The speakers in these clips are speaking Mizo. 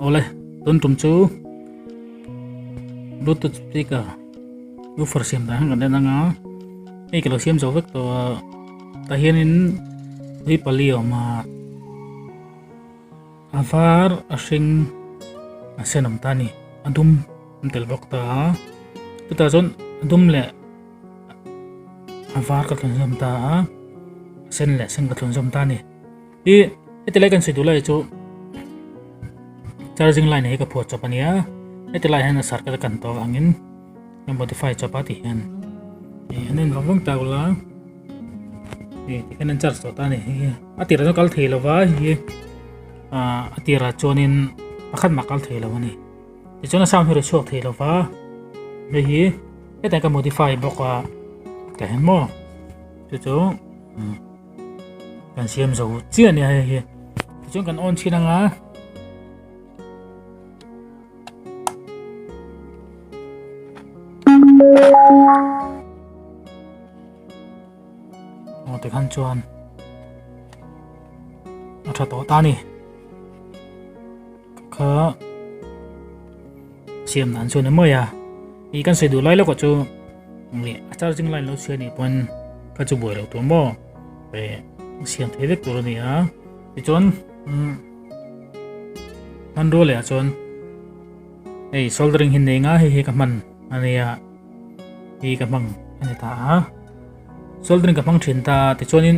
Awle, tun tum chu Bluetooth speaker woofer siam dan kan en anga hei ka lo siam zo vek tawh a ta hianin ri pali a awm a a var a hring a sen awm ta ni a dum an tel bawk ta a chutah chuan a dum leh a var ka thawnzawm ta a sen leh sen ka thawnzawm ta ni i heti lai kan sawi duh lai chu charging line hi ka phuah chawp a nia heti lai hian a sar ka kan tawh angin ka modify chawp a ti hian eh an en vang vang ta ula eh tikhan an charge tawh ta ni hi a tirah chuan kal thei lova hi a a tirah chuanin pakhat mah kal thei lo a ni tichuan a sound hi rawh chhuak thei lova hei hi hetiang ka modify bawk a ka hmu chu chu kan siam zo chiah nia hei hi tichuan kan on thin anga aw te khan chuan a tha tawh ta ni kha siam nan chuan amai a i kan sei du lai lawk chu nge a charging line lo siam ni pon ka chu buai lo tur mo e siam thei vek tur ni a ti chuan man ro le a chuan ei soldering hin nei nga hi hi ka man ania hi ka mang ani ta a soldering ka mang thin ta ti chuan in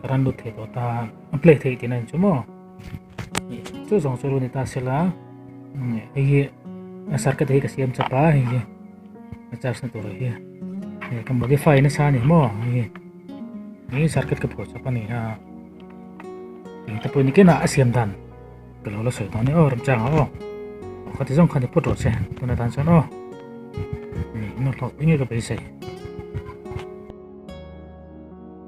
ka rawn lut thei tawh ta a play thei tiin a inchawh maw ni chu zawng chu a rawn ni ta se la hei hi a circuit hi ka siam chap a hei hi a charge na tur hi hei ka modify nasa a ni maw hei hi hei circuit ka phawh chap a ni a eng te pawh ni kena a siam dan ka lo la sawi tawh ni aw ram changa aw kha ti zawng kha ni phawt rawh che tuna dan chuan aw ni nawr hlawk enge ka beisei